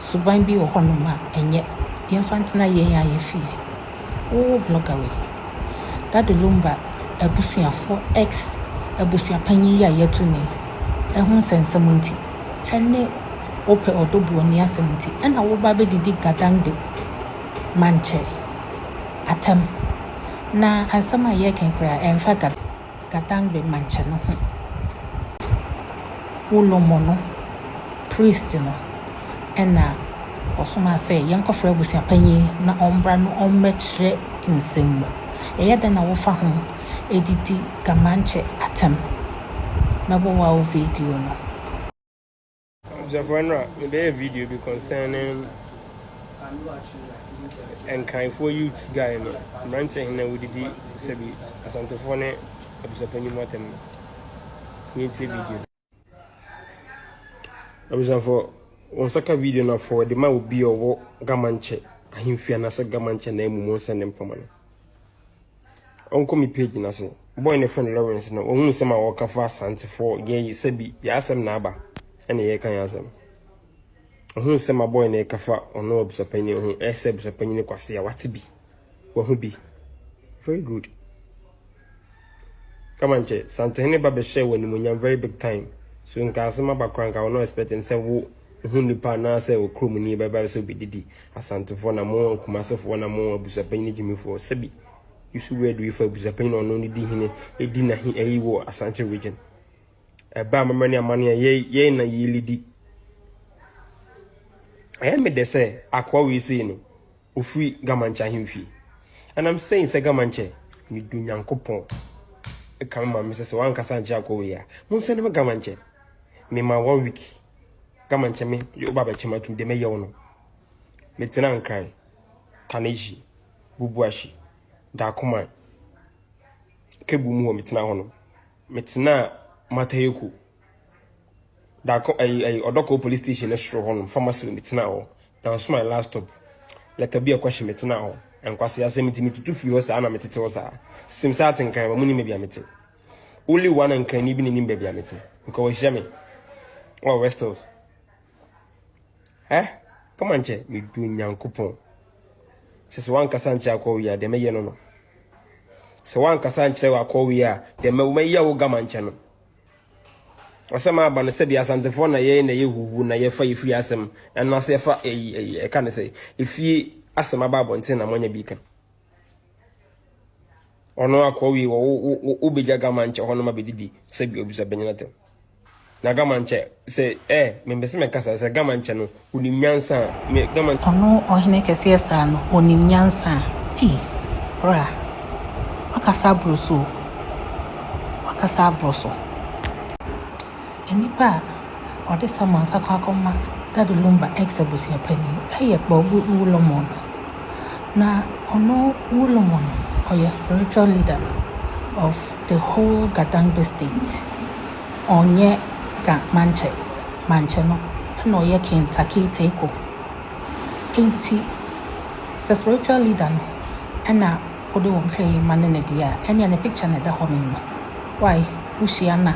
Suban bi wɔ hɔnom a ɛnyɛ. Yɛmfa ntena yɛn a yɛ fie. Woo blogger wei. Daddy Lumba abusuafoɔ ex abusuapanyin yi a yɛatu no yi, ɛho nsɛnsɛm nti, ɛne wopɛ ɔdɔ bu w'ani asɛm nti, ɛna woba abɛdidi Gadangbe Mankyɛ atɛm. Na asɛm a yɛreka yi koraa ɛmfa Gadangbe. Gadangbe Manche no ho Ulomo no priest no na ɔsomaa sɛ yɛnkɔfrɛ abusuapanyin na ɔmbra na ɔmmɛkyerɛ nsɛm mu. Ɛyɛ dɛn na wofa ho de di Gamanche atɛm? Mɛbɔ wow video no. Abusuafo ɛnora mebɛyɛ video bi concerning nkanfoɔ youth guy no mmeranteɛ hene wodidi sɛbi asantefoɔ ne abusuapanyin mu atɛm no yɛntie video no abusuafo wɔn nsa ka video no afɔ de ma obi ɔwɔ gamankyɛ ahemfie anaasɛ gamankyɛ na emu mu nsɛn ne mpama no Ɔnkɔ me page no ase. Boy no frɛ no Lawrence no, ɔhu nsɛm a wɔka fa Asantefoɔ yɛ yi sɛ bi yɛ asɛm na aba ɛna yɛka yɛ asɛm. Ɔhu nsɛm a boy no ɛka fa ɔno abusapanyin ho ɛsɛ abusapanyin kwase a wate bi. Wahu bi. Very good. Kama nkyɛ, Santehene ba bɛhyɛ wɔ animonyam very big time. So nka asɛm aba koraa nka ɔno expect nsɛ wo ho nipa anaasɛ ɔkuromni bɛba sɛ ɔbɛdidi, Asantefoɔ na mo, Kumasefoɔ na mo, Abusuapanyin ne Gyimifoɔ, sɛbi, Yusu Wɛdu yi fa Abusuapanyin ɔno ne di hene, ɛdi n'ahe ayi wɔ Asante Region. Ɛba amammerɛ ne amane a yɛn yɛn na yɛlidi. Ɛyɛ me dɛ sɛ akoa wei sei no, ɔfiri Gamankyɛ ahemfie. And I'm saying sɛ Gamankyɛ, medu Nyankopɔn ɛka me ma me sɛ sɛ wankasa ankyɛ akoa wei a, monsɛne me Gamankyɛ. Mema one week. Gama nkyɛ me yɛ woba bɛkyɛ matum de mɛyɛ wo no. Metena nkran, Kanehyi, Bubuahyi, Dakoman, Kebu mu hɔ metena hɔ no. Metena Matayoko, Dako ɛyi ɛyi Ɔdɔkɔ police station ne soro hɔ no pharmacy no metena hɔ. Nanso my last stop lɛta bi ɛkɔhye metena hɔ. Nkwasi asɛm nti metutu firi hɔ saa na metete hɔ saa. Sim saa te nkran ma mu ni me bia mete. Only one and can even in baby amity. Because we jamming. Oh, West Hills. Eh? Come on, che. Me do nyan coupon. Says one Kassan Chako, we are the mayor. No, no. So one Kassan Chako, we are the mayor of Gaman Channel. Asɛm aba no sɛbi asantefoɔ na yɛyɛ na yɛ huhu na yɛfa yɛfiri asɛm ɛno ase yɛfa ɛyi ɛyi ɛka ne sɛ efie asɛm aba abɔnten na mɔnyɛ bi ka. ɔno akɔ wie wɔ wo wo wo wobɛgya gama nkyɛ hɔ no ma bɛdidi sɛ bi obisa bɛnyɛ no tɛm na gama nkyɛ sɛ ɛ mempɛ sɛ mɛkasa sɛ gama nkyɛ no wonim nyansa me gama ɔno ɔhene kɛseɛ saa no ɔnim nyansa ei bra wakasa aboro so wakasa aboro so Nnipa a wɔde Samuel nsa kɔ akɔma Daddy Lumba, ex abusua panin, yɛ Kpawgu Wulomon. Na ɔno Wulomon ɔyɛ spiritual leader of the whole Gadangbe state. Ɔnyɛ Ga Manche, Manche no na ɔyɛ King Takei Teiko. Enti sɛ spiritual leader no na wode wo nkae yi ma no na di a, ɛnea ne picture na ɛda hɔ no no, wai, wohyia no a,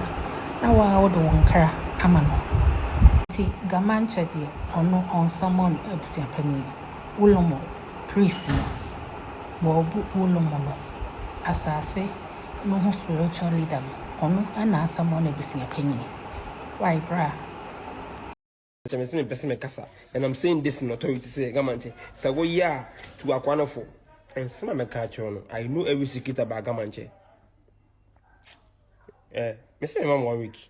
na woaa wode wo nkra ama no. Nti Gamankyɛ deɛ ɔno ɔnsummon abusuapanin, Wulomo, priest no, Bɔɔbu Wulomo no, asaase no ho spiritual leader no, ɔno na asummon abusuapanin. Wai bra? Sɛ me se me pɛ se me kasa and I'm saying this in authority sɛ Gamankyɛ sɛ wo yɛ a tu akwa no fo. Nsɛm a mɛka akyerɛ no I know every secret about Gamankyɛ. Eh, me se me ma mo one week.